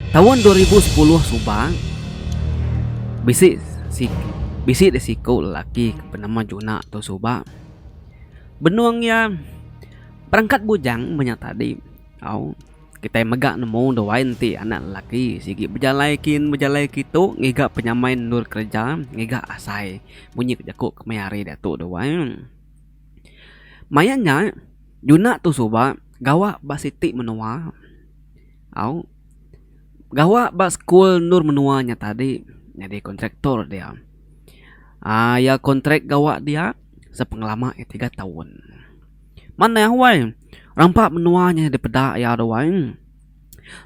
Taun dua ribu sepuluh suba, bisi bisi deh siku lelaki ke benama Juna tu suba benung iya berangkat bujang menya tadi au kitai mega nemu duai enti anak lelaki sigi bejalai kin bejalai kitu ngiga penyamai endur kereja ngiga asai munyi ke jaku ke meh hari diatu duai. Maya nya Juna tu suba gawa ba siti menua. Au. Gawa ba sekul endur menua nya tadi nyadi kontraktor dia. Aa iya kontrak gawa dia sepengelama iya tiga taun. Manah wai rampa menua nya dipeda iya tu wai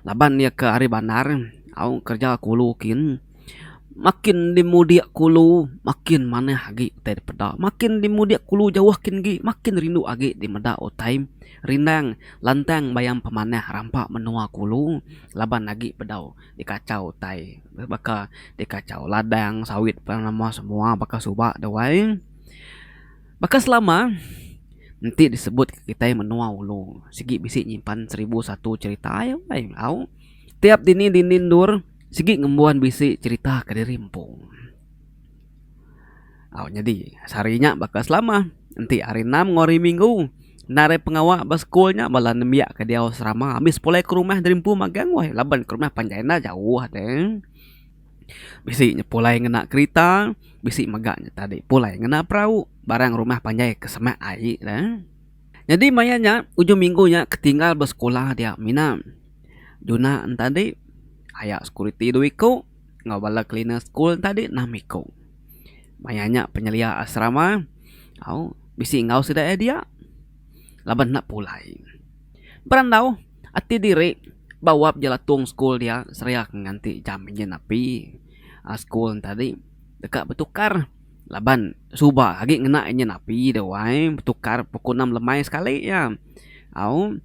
laban iya ke ari bandar au kerja ke ulu kin. Makin dimudik kulu makin manah agi utai dipeda. Makin dimudik kulu jauh kin agi makin rindu agi dimeda utai rindang lantang bayam pemanah rampa menua kulu laban agi bedau dikachau utai baka dikachau ladang sawit pen nama semua baka suba da wai baka selama enti disebut kitai menua ulu sigi bisi nyimpan seribu satu cherita ai au tiap dini dini endur. Sigi ngembuan bisi cerita ke diri empu. Au nyadi sehari nya baka selama enti hari enam enggau hari minggu enda ari pengawa ba sekul nya bala nembiak ke diau serama ambis pulai ke rumah diri empu magang weh laban ke rumah panjai enda jauh deh. Bisi nya pulai ngena kerita bisi mega nya tadi pulai ngena perau barang rumah panjai ke semak ai le. Nyadi maya nya ujung minggu nya ketinggal besekolah dia mina juna entadi aya security dua iku enggau bala cleaner school entadi enam iku. Maya nya penyelia asrama au bisi enggau sida iya dia laban enda pulai. Berandau ati diri ba wap jelatung school dia seria ke nganti jam nyin api school entadi deka betukar laban. Suba agi ngena inya napi dah wai betukar pukul enam lemai sekali iya. Au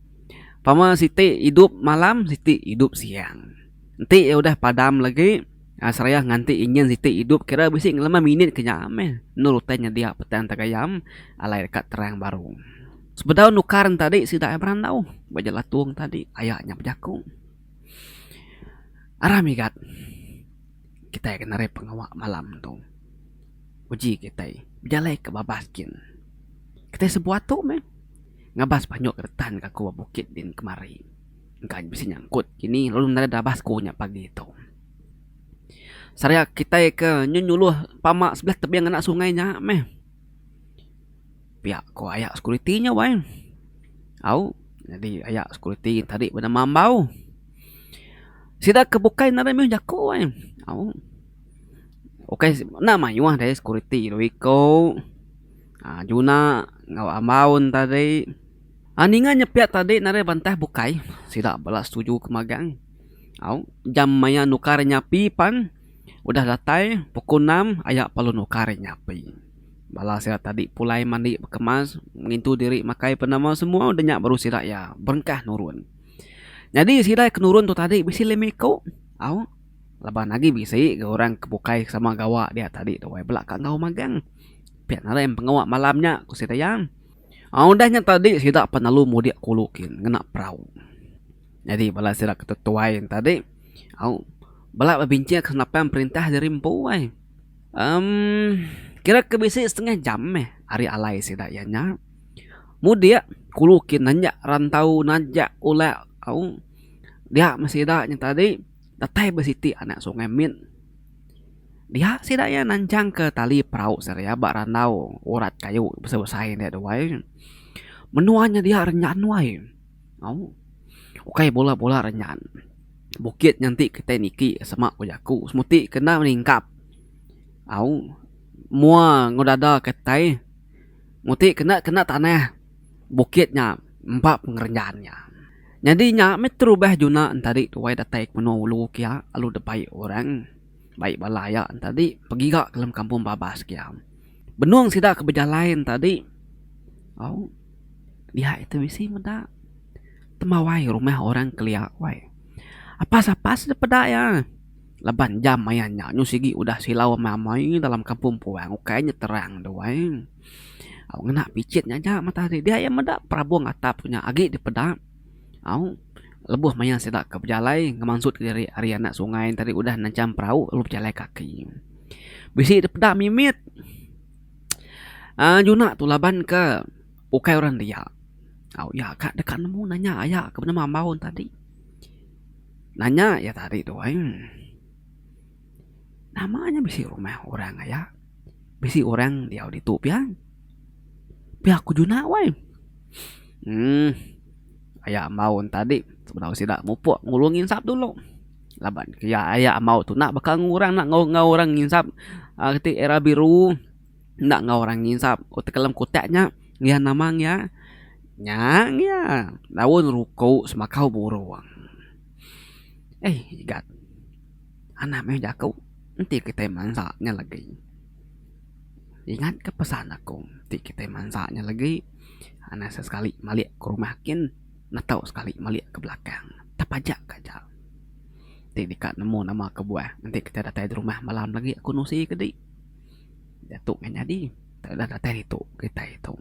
pama siti idup malam siti idup siang. Enti iya udah padam lagi aaa serayah nganti enyin siti idup kira bisi ngelemah minit ke nya meh endur utai nyedia petai entar gayam alai deka terang baru. Sebedau nukar ne tadi sida ai berandau ba Jelau Tung tadi aya nya bejaku. Aram igat. Kitai ke nari pengawa malam tu. Uji kitai bejalai ke babas gin. Kitai sebuah tu meh ngabas banyu ke retan gaku ba bukit din kemari. Engka nya bisi nyangkut kini lalu nadai dabas ku nya pagi tu. Saria kitai ke nyu nyuluh pama sebelah tebing anak sungai nya meh. Pia ko aya security nya wai. Au nyadi aya security tadi beda mambau. Sida ke bukai enda ada mih jako wai. Au ukai enda mayuh deh security dua iko aaa juna enggau ambaun tadi. Aaa ninga nya pia tadi enda ada bantah bukai sida bala setuju ke magang. Au jam maya nukar nyapi pan udah datai pukul enam aya parlu nukar nyapi. Bala sida tadi pulai mandi bekemas ngintu diri makai pe nama semua udah nya baru sida iya berengkah nurun. Nyadi sida ke nurun tu tadi bisi lime iku au laban agi bisi ga orang ke bukai ke sama gawa dia tadi tu ai bela ka enggau magang. Pia ngagai pengawa malam nya ku sida iya. Au udah nya tadi sida pan lalu mudik ke ulu kin ngena perau. Nyadi bala sida ke tetuai yen tadi au bala bebincang ke senapang perintah diri empu ai. Em, kira ke bisi setengah jam meh ari alai sida iya nya. Mudik kulu kin nanjak rantau, nanjak ulak au. Dia meh sida nya tadi datai ba siti anak sungai mit. Dia sida iya nanchangka tali perau sida iya ba randau urat kayu besai-besai nya duai. Menua nya dia renyan duai. Au. Ukai bula-bula renyan. Bukit nya enti kitai niki sema ku jaku semuti ke enda meningkap au mua enggau dada kitai muti kena kena tanah bukit nya empa pengerejan nya. Nyadi nya meh terubah juna enta di tuai datai ke menua ulu kia lalu debai orang bai bala iya enta di begiga dalam kampung babas kia. Benung sida ke bejalai enta di au. Diak iti bisi meda temawai rumah orang kelia wai. Apas apas dep peda iya laban jam maya nya nyu sigi udah silau amai amai dalam kampung puang ukai nya terang tu wai. Au ngena pichin nya aja mata hari dia iya meda perabung atap tu nya agi dipeda au lebuh maya sida ke bejalai ngemansut diri ari anak sungai tadi udah nancang perau lalu bejalai kaki. Bisi dipeda mimit. uhh nyuna tu laban ke ukai orang dia tau iya ka deka nemu nanya aya ka penemu ambaun tadi nanya iya tadi tu ai nama nya bisi rumah orang aya bisi orang diau ditu pia pia ku juna wai uhh aya ambaun tadi penau sida mupuk ngulung insap dulu. Laban ke iya aya amau tu enda baka orang enda enggau orang nginsap aaa reti era biru enda enggau orang nginsap utai ke dalam kutak nya iya nama iya nya iya daun ruku semakau burung. Ai gat anak meh jaku enti kitai mansa nya lagi ingat ke pesan aku enti kitai mansa nya lagi anak sesekali malik ke rumah kin. Ngetau sekali malik ke belakang tepajak ka ja. Ti deka nemu nama kebuah enti kitai datai di rumah malam lagi aku nusi ke di. Diatu meh nyadi tau ida datai ditu kitai tu.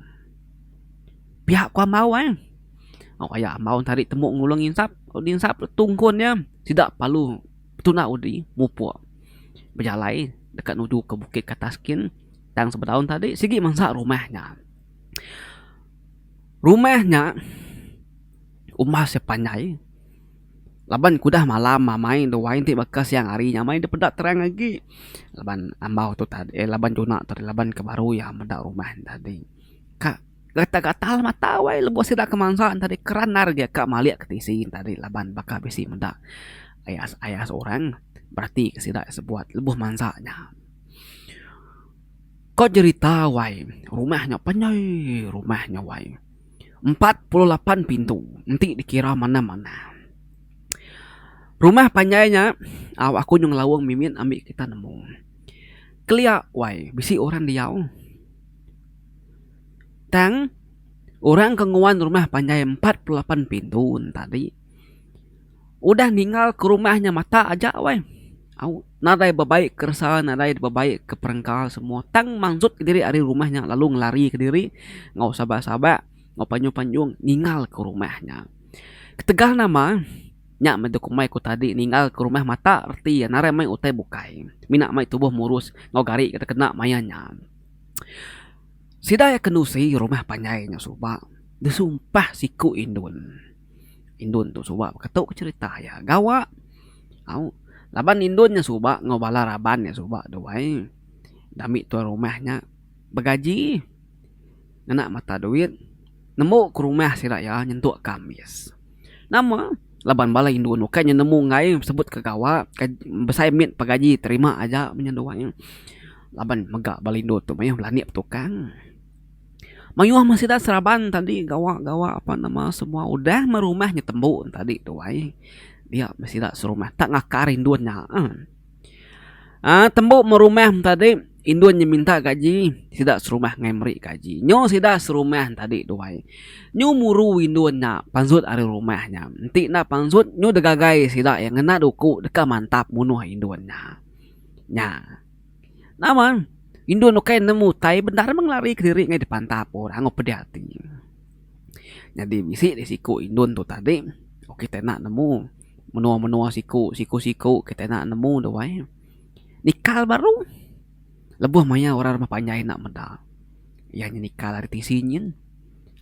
Pia ku ambau ai. Au aya ambau enti ari temu ngulung insap lalu di insap tu tungkun nya sida palu betuna udi mupuk bejalai deka nuju ke bukit ke atas kin tang sebedau tadi sigi mansa rumah nya. Rumah nya rumah sia panjai laban ke udah malam amai enda wai enti baka siang hari nya amai enda peda terang agi laban ambau tu tadi laban juna tadi laban ke baru iya meda rumah nya tadi ka gatal gatal mata wai lebuh sida ke mansa ne tadi keranar aja ka malik ke tisi ne tadi laban baka bisi meda ayas ayas orang berati ke sida sebuat lebuh mansa nya. Ko jerita wai rumah nya panjai rumah nya wai empat puluh lapan pintu enti dikira manah manah rumah panjai nya au aku nyau ngelaung mimit ami kita nemu kelia wai bisi orang diau tang orang ke nguan rumah panjai empat puluh lapan pintu tadi. Udah ninggal ke rumah nya matak aja weh au nadai bebaik keresa nadai bebaik ke perengka semua tang manjut ke diri ari rumah nya lalu ngelari ke diri enggau saban saban enggau panjung panjung ninggal ke rumah nya. Ketegal nama nya meh dau komai ku tadi ninggal ke rumah matak reti iya narai meh utai bukai mina meh tubuh murus enggau gari ke tekena maya nya. Sida iya ke nusi rumah panjai nya suba disumpah siku indun. Indon tu suba beketuka cherita iya gawa au laban indon nya suba enggau bala raban nya suba tu ai dami tuan rumah nya begaji ngena mata duit nemu ke rumah sida iya nyentuk ka ambis. Nama laban bala indon bukai nya nemu enggai sebut ke gawa besai mit pa gaji terima aja meh nya tu ai laban mega bala indon tu mayuh belanik betukang. Mayuh masyarakat seraban tadi gawa gawa apan nama semua udah meh rumah nya tembu tadi tu ai dia masyarakat serumah tak ngakar indun nya eh uhh tembu meh rumah tadi indun nya minta gaji sida serumah ngai meri gaji nyu sida serumah tadi tu ai nyu muru indun nya panjut ari rumah nya enti enda panjut nyu degagai sida ngena duku deka mantap munuh indun nya nya. Nama indun ukai nemu utai bendar meh ngelari kediri ngai dipantap orang enggau pedih ati. Nyadi bisi deh siku indun tu tadi oku kita enda nemu menua menua siku siku siku kita enda nemu deh wai nikal baru lebuh maya orang rumah panjai enda meda iya nya nikal ari tisi nyin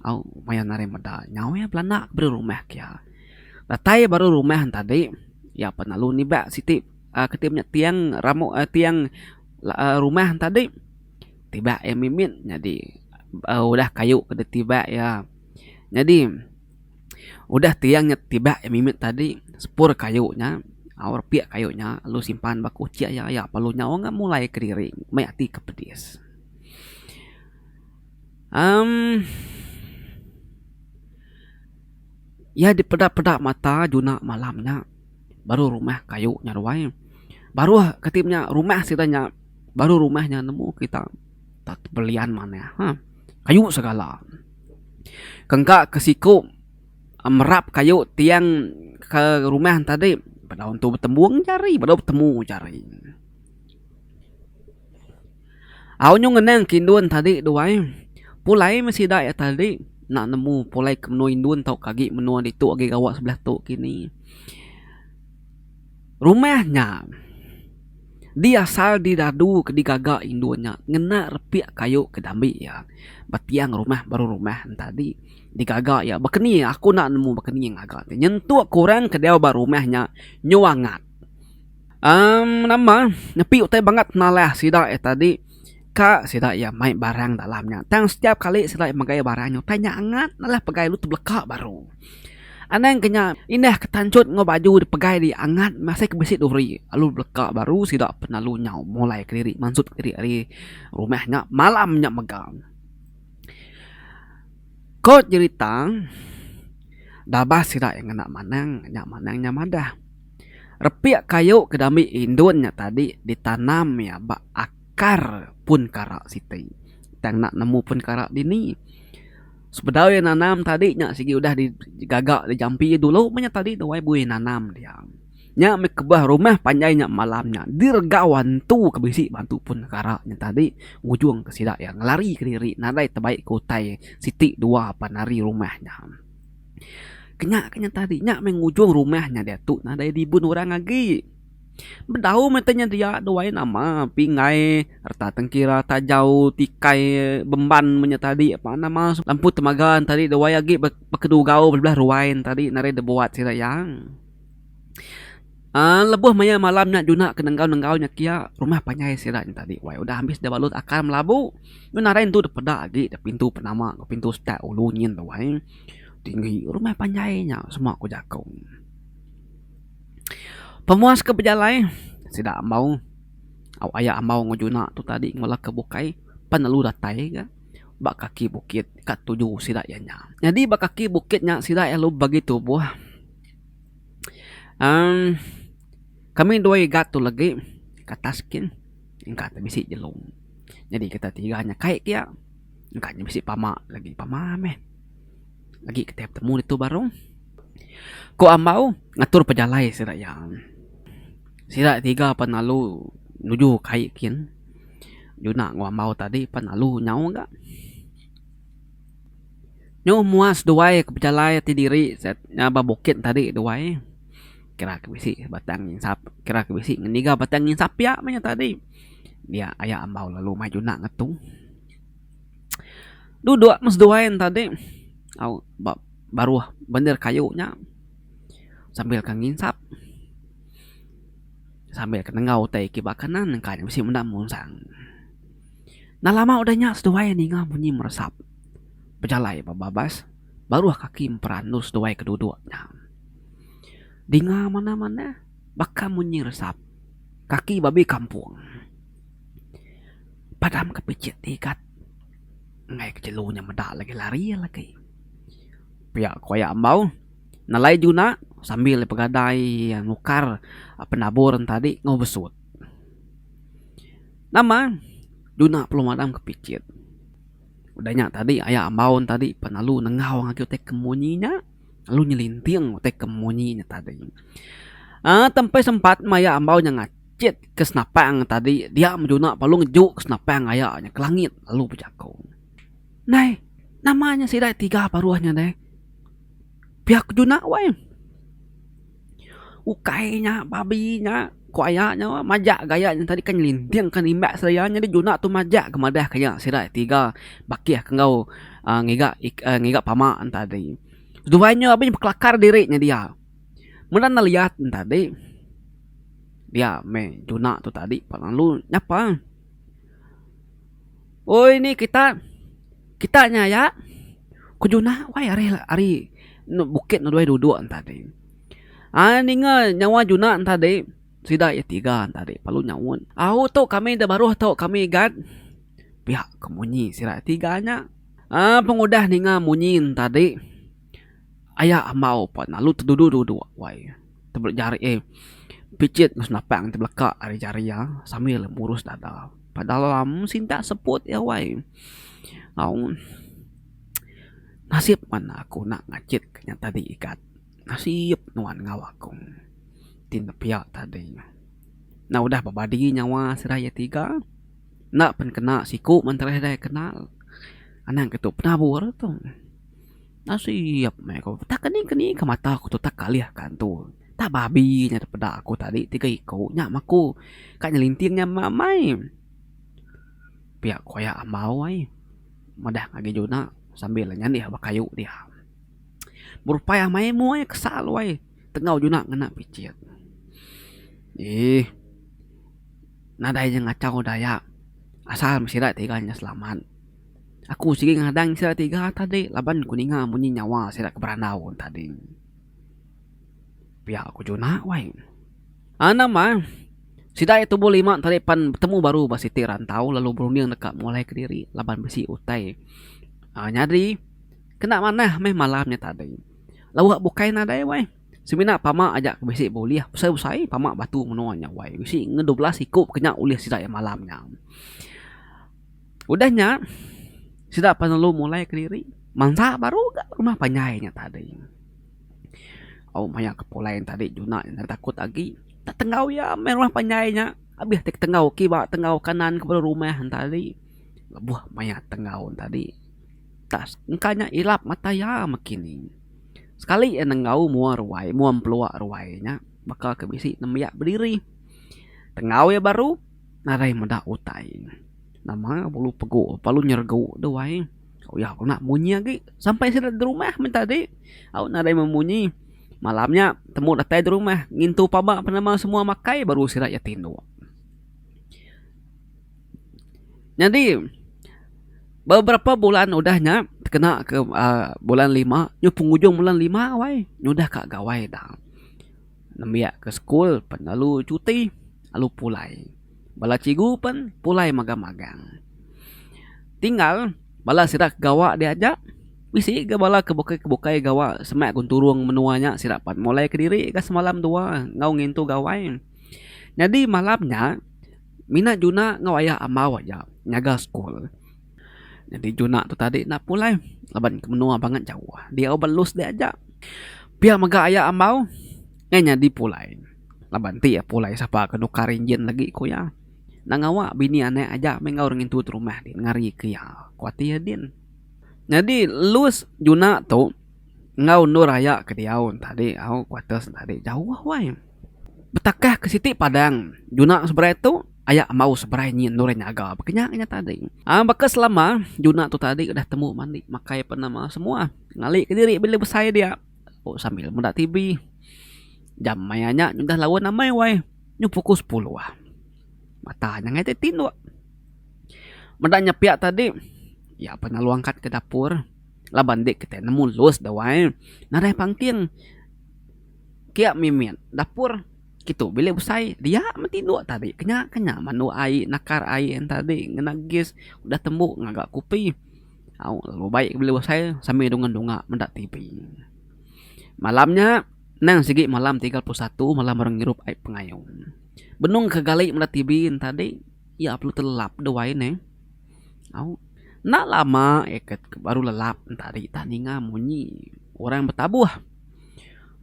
au maya nari meda nyau iya belanda beri rumah ke iya datai baru rumah tadi iya peh lalu niba siti. um keti punya tiang ramu um tiang um rumah tadi tiba iya mimit nyadi um udah kayu ke dei tiba iya. Nyadi udah tiang nya tiba iya mimit tadi sepur kayu nya au repik kayu nya lalu simpan ba kuchek iya iya perlu nyau ga mulai kediri mei ati ke pedis. um Iya dipeda-peda mata juna malam nya. baruh rumah kayu nya ruai baruh kati punya rumah sida nya baruh rumah nya nemu kita tak belian manah ha kayu segala kan ka ke siku merap kayu tiang ke rumah nya tadi beda entu betembung jari beda betemu jari. Au nyau ngenang ke indun ke tadi tu ai, pulai meh sida yak tadi enda nemu pulai ke menua indun tau ke agi menua ditu agi gawa sebelah tu kini. Rumah nya di asal di dadu ke digaga indun nya ngena repi kayu ke diambi iya bak tiang rumah baru rumah nya tadi digaga iya baka ni aku enda nemu baka ni ngaga nyentuk ke orang ke dau ba rumah nya nyau angat. Umm nama nepi utai bangat penalah sida iya tadi ka sida iya mai barang dalam nya tang setiap kali sida iya megai barang nya utai nya angat nalah pegai lalu tebeleka baru. Anang ke nya indah ke tanchut enggau baju ri pegai ri angat masih ke bisi duri lalu beleka baru sida penalu nyau mulai kediri mansut diri ari rumah nya malam nya mega. Ko jerita dabas sida iya ngena manang nya manang nya madah. Repik kayu ke diambi indun nya tadi ditanam iya ba akar pun kara siti. Tang nak nemu pun kara dini. Sebedau iya nanam tadi nya sigi udah digaga dijampi iya dulu meh nya tadi wai buin nanam dia. Nya meh kebah rumah panjai nya malam nya diregau antu ke bisi ba antu pun kara nya tadi ngujung ke sida iya ngelari kediri nadai tebai ke utai siti dua pan ari rumah nya. Kena kena tadi nya meh ngujung rumah nya diatu nadai ribun orang agi. Bedau meh tanya dia duai nama pingai reta tengkira tajau tikai bemban meh nya tadi apa nama lampu temaga nya tadi duai agi bekedugau bala belah ruai nya tadi nadai deh buat sida iya. uhh lebuh maya malam nya juna ke nenggau nenggau nya kia rumah panjai sida nya tadi wai udah ambis deh balut akan melabu nadai entu deh peda agi deh pintu penama pintu setak ulu nyin duai. Tinggi rumah panjai nya semua ku jaku. Pemuas ke bejalai sida ambau au aya ambau enggau juna tu tadi bala ke bukai pan lalu datai ga ba kaki bukit ka tuju sida iya nya. Nyadi ba kaki bukit nya sida iya lalu bagi tubuh uhh kami dua iga tu legi ke atas kin engka te bisi jelu. Nyadi kita tiga nya kai pia. Engka nya bisi pama lagi. Pama meh. Agi kitai betemu ditu baru. Ku Ambau ngatur pejalai sida iya. Sida tiga pan lalu nuju kai kin. Juna enggau Ambau tadi pan lalu nyau ga. Nyauh mua seduai ke pejalai ti diri ngaban bukit tadi duai. Kira ke bisi batang insap, kira ke bisi ngiga batang insap iya meh nya tadi. Dia aya Ambau lalu mai Juna ngetu. Duduk meh seduai ne tadi au ba baruh bendar kayu nya sambil ke nginsap sambil ke nengau utai ke ba kanan engka ne bisi menda munsang. Enda lama udah nya seduai ninga bunyi meresap bejalai ba babas baruh kaki empat andu seduai ke duduk nya. Dinga manah manah baka bunyi resap kaki babi kampung. Padam ke picit ti ikat enggai ke jelu nya meda lagi lari iya lagi. Pia ku aya ambau nelai juna sambil iya pegadai nukar penabur tadi enggau besut. Nama juna perlu madam ke picit udah nya tadi aya ambau tadi pan lalu nengau agi utai ke munyi nya lalu nyelinting utai ke munyi nya tadi. Aaa tempai sempat maya ambau nya ngacha. Cit ke senapang tadi dia menjuna palung juk ke senapang aya nya ke langit lalu bejako, Nai, nama nya sida tiga paruh nya nai? Pia ke juna wai. Ukai nya babi nya ko aya nya majak ga aya nya tadi ke nyelinting ke nimbas iya nyadi juna tu majak ga madah ke iya sida tiga bakih ke enggau ngiga ngiga pama tadi. Duai nya abih bekelakar diri nya dia. Meda enda liat ne tadi dia meh juna tu tadi pak lalu nyapa oi ni kita kita nya aya ku juna wai ari ari enda bukit enda duai duduk ne tadi ai ninga nyawa juna ne tadi sida iya tiga ne tadi lalu nyaut au tu kami da baruh tu kami gat pia ku munyi sida tiga nya ai pengudah ninga munyi ne tadi. Aya amau pan lalu teduduk-duduk wai tebelak jari eh picit masu napang ti beleka ari jari iya sambil murus dada. Pada alam sintak seput iya wai. Au nasib pan aku enda ngachit ke nya tadi ikat. Nasib nuan enggau aku ti nepia tadi. Enda udah bebadi nyawa sida iya tiga enda pen kena siku mentereh dai kenal. Anang ke tu penabur tu. Nasib meh aku. Tak keni keni ka mata aku tu tak kalih ka antu. Tak babi nya da peda aku tadi tiga iku nya meh aku ka nyelinting nya meh amai. Pia ku aya ambau ai madah ngagai juna sambil nyanih ba kayu dia. Berupai amai mu ai kesa lu ai tengau juna ngena picit. Eeh nadai inya ngachau daya asal meh sida tiga nya selamat. Aku sigi ngadang sida tiga tadi laban ku ninga munyi nyawa sida ke berandau tadi. Pia ku Juna wai. Ah nama sida iya tubuh lima tadi pan betemu baru ba siti rantau lalu berunding deka mulai kediri laban bisi utai ah nyadi kena manah meh malam nya tadi. Lebuh nya bukai nadai wai semina pama aja ke bisi bulih besai besai pama batu menua nya wai bisi ngan dua belas iku ke nya ulih sida iya malam nya. Udah nya, sida penelu mulai kediri mansa baru ga rumah panjai nya tadi. Au maya ke pulai nya tadi juna nya enda takut agi tak tenggau iya meh rumah panjai nya abih ti tenggau kiwa tenggau kanan kebuah rumah nya tadi lebuh maya tenggau nya tadi tak engka nya ilap mata iya meh kini. Sekali iya nenggau mua ruai mua empelua ruai nya baka ke bisi nembiak bediri tenggau iya baru. Nadai meda utai. Nama bolu pegu bolu nyergu tu ai. Uyah ku nak munyi agi sampai sida di rumah meh tadi. Au nadai meh munyi. Malam nya temu datai di rumah ngintu paba penama semua makai baru sida iya ti indu. Nyadi beberapa bulan udah nya kena ke aaa bulan lima nya pengujung bulan lima awai nya udah ka gawai da. Nembiak ke sekul pen lalu cuti lalu pulai. Bala cikgu pen pulai mega magang. Tinggal bala sida ke gawa diaja bisi ga bala ke bukai bukai gawa semak gun turung menua nya sida pat mulai kediri ga semalam dua enggau ngintu gawai. Nyadi malam nya mina juna enggau aya ambau aja nyaga sekul. Nyadi juna tu tadi enda pulai laban ke menua bangat jauh. Diau ba lus dek aja. Pia mega aya ambau nyai nyadi pulai laban ti iya pulai sapa ke nukar enjin lagi ku iya. Enda ngawa bini anak aja meh enggau orang ngintu ti rumah din ngari ke iya ku ati iya din. Nyadi lus juna tu enggau endur aya ke diau tadi au kuarters tadi jauh wai. Betakah ke siti padang juna seberai tu aya embau seberai nyin dulu orang nyaga baka nya ngagai tadi. Aaa baka selama juna tu tadi udah tembu mandi makai ape nama semua ngali ke diri bila besai dia o sambil meda tv jam maya nya udah lawa amai wai nyu pukul sepuluh mata nya angai ti tinduk. Meda nya pia tadi iya pun lalu angkat ke dapur laban dik kitai nemu lus dawai nadai pangking. Kia mimit dapur kitu bilik besai dia meh tinduk tadi kenya kenya mandu ai nakar ai yen tadi ngena gas udah tembu ngaga kopi au lalu baik bilik besai sambel dungan dunga meda TV malam nya nang sigi malam tiga puluh satu malam orang ngirup ai pengayo benung ke gali meda TV yen tadi iya perlu telap dau ai neh au enda lama eket baru lelap yen tadi tang ninga munyi orang betabuh.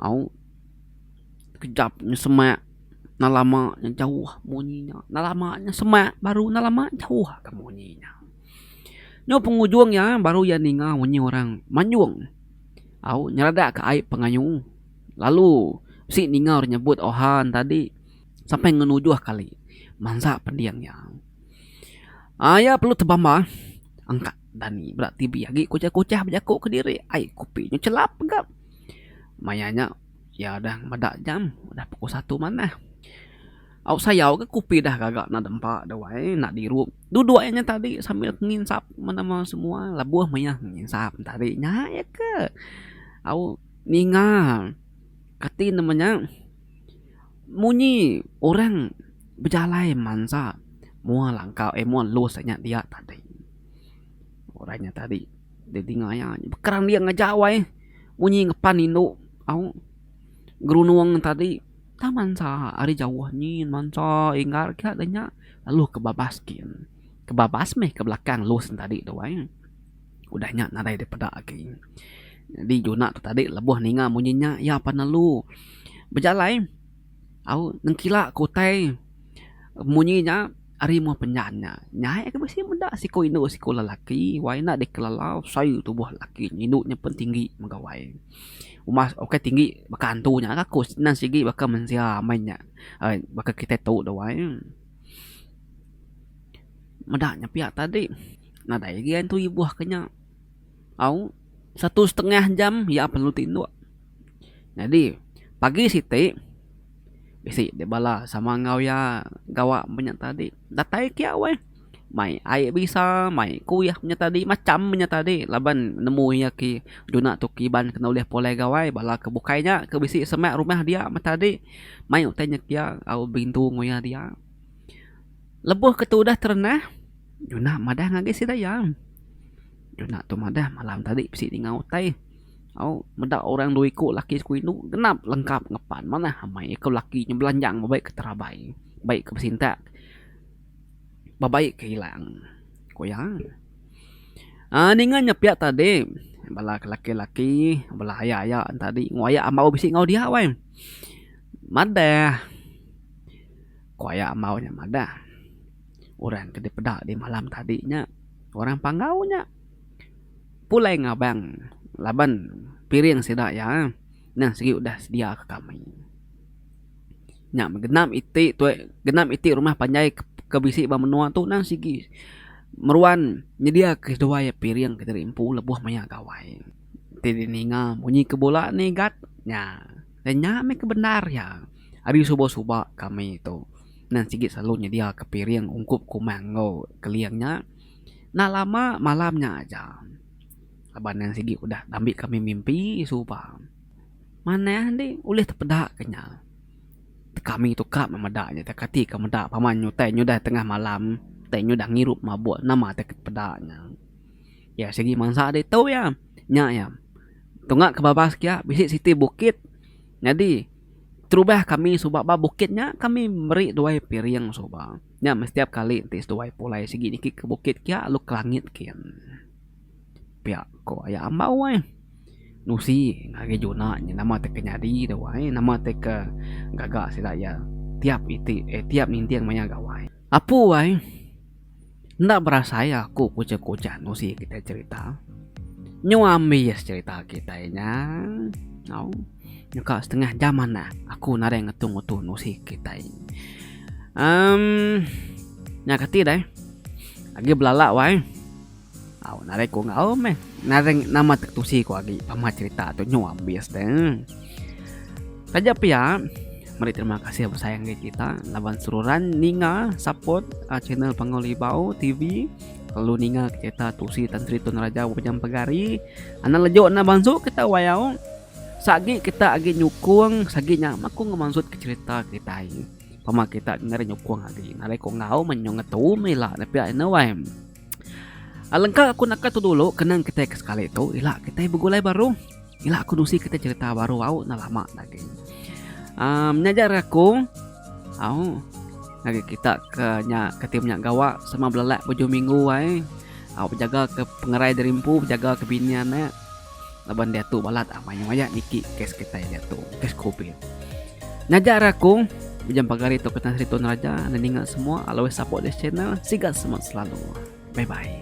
Au kejap nya semak enda lama nya jauh munyi nya. Enda lama nya semak baru enda lama jauh ke munyi nya. Nya pengujung iya baru iya ninga munyi orang manjung. Au nyeradak ke ai pengayu lalu bisi ninga orang nyebut oha ne tadi sampai ngenujuh kali mansa pending iya. Ai iya perlu tebambah angka. Dani bela tibi agi kuchah-kuchah bejaku kediri. Ai kopi nyu chelap ga. Maya nya iya udah meda jam udah pukul satu manah. Au sayau ga kopi dah gaga enda dempa dah wai enda dirup. Duduk aja nya tadi sambil nginsap menama semua lebuh maya nginsap nya tadi nya aja ke. Au ninga kati nama nya. Munyi orang bejalai mansa mua langkau eh mua los nya dia tadi. Orang nya tadi deh dingaya nya bekerang dia ngejau ai munyi ngepan indu au gerunung tadi tang mansa ari jauh nyin mansa inggar ka deh nya lalu kebabas gin. Kebabas meh ke belakang los tadi tu ai. Udah nya nadai dipeda agi. Nyadi Juna tu tadi lebuh ninga munyi nya iya pan lalu bejalai au nengkila ke utai munyi nya ari muh penjan nya. Nyai agi bisi meda siku indu siku lelaki wai enda dikelelau sai tubuh lelaki nya. Indu nya pun tinggi mega wai. Uma ukai tinggi baka antu nya ka ko nan sigi baka mensia amai nya. Ai baka kitai tu dah wai. Meda nya pia tadi nadai lagi ai tentu ibuh ke nya. Au satu setengah jam iya perlu ti endok. Nyadi pagi siti bisi dep bala sama enggau iya gawa meh nya tadi. Datai ke iya weh mai ai bisa mai kuih nya tadi macham nya tadi laban nemu iya ki duna tu kiban kena ulih pulai gawai bala ke bukai nya ke bisi semak rumah dia meh tadi mai utai nya ke iya au berintu enggau iya dia. Lebuh ke tu udah terenah, Junah madah ngagai sida iya. Junah tu madah malam tadi bisi ninga utai. Au, meda orang dua iku laki siku indu genap lengkap ngepan manah amai iya ke laki nya belanjang ba baik ke terabai, baik ke besintak, ba baik ke ilang, ku iya. Aa ninga nya pia tadi bala ke laki-laki bala aya-aya tadi nguayak ambau bisi enggau dia wai. Madah. Ku aya ambau nya madah, orang ke dipeda di malam tadi nya orang Panggau nya. Pulai ngabang laban piring sida iya nang sigi udah sedia ke kami. Nya meh genap iti tuai genap iti rumah panjai ke bisi ba menua tu nang sigi meruan nyedia ke seduai iya piring ke diri empu lebuh maya gawai. Ti dininga bunyi ke bula nigat nya. Dan nya meh ke bendar iya. Ari suba-suba kami tu, Nan Sigit selalu nyediaka piring ungkup kumang enggau keling nya. Enda lama malam nya aja laban Nan Sigit udah dambi kami mimpi suba. Manah enti ulih tepedaka nya. Kami tu ka meh meda nya ita kati ka meda pama nyutai nyudah tengah malam, utai nyudah ngirup mabuk nama atai ke peda nya. Iya sigi mansa ditu iya. Nya iya. Tunga ke babas kia bisi siti bukit. Nyadi terubah kami suba ba bukit nya kami meri duai piring suba. Nya meh setiap kali ti seduai pulai sigi niki ke bukit kia lalu ke langit kin. Pia ko aya ambau ai. Nusi ngagai juna nya nama ti ke nyadi tu ai nama ti ke gaga sida iya tiap iti eh tiap ninting maya gawai. Apu ai. Enda berasai iya aku kuchah-kuchah nusi kitai cherita. Nyu ambi iya secherita kitai nya. Au. Nyu ka setengah jam manah aku nadai ngetu-ngetu nusi kitai. Em. Nya kati deh. Agi belala wai. Au narai ku enggau meh nareng nama te ketusi ku agi pama cerita tu nyu ambis te. Taja pia meri terima kasih besayang agi kita laban seruran ninga support uh, channel Pangau Libau TV lalu ninga cerita tusi Tan Sri Tun Raja Bujang Pegari. Anak lejuk na bansu kita wayau sagi kita agi nyukung sagi nya maku ngemansut ke cerita kita ai pama kita ngenyukung agi narai ko ngau menyong ngetu mila ne pia ina wai Alengka aku naka tu dulu kenang kitai ke sekali tu ila kitai begulai baru ila aku nusi kitai cerita baru au enda lama daging um nyajar aku au ngagai kita ke nya ke ti menya gawa sema belelak bujung minggu ai au bejaga ke pengerai diri empu bejaga ke bini anak. laban diatu balat amai nya maya niki kes kitai diatu kes covid nyaja rakung bejam pagar itu ke tan sri tun raja enda ninga semua always support this channel siga semak selalu bye bye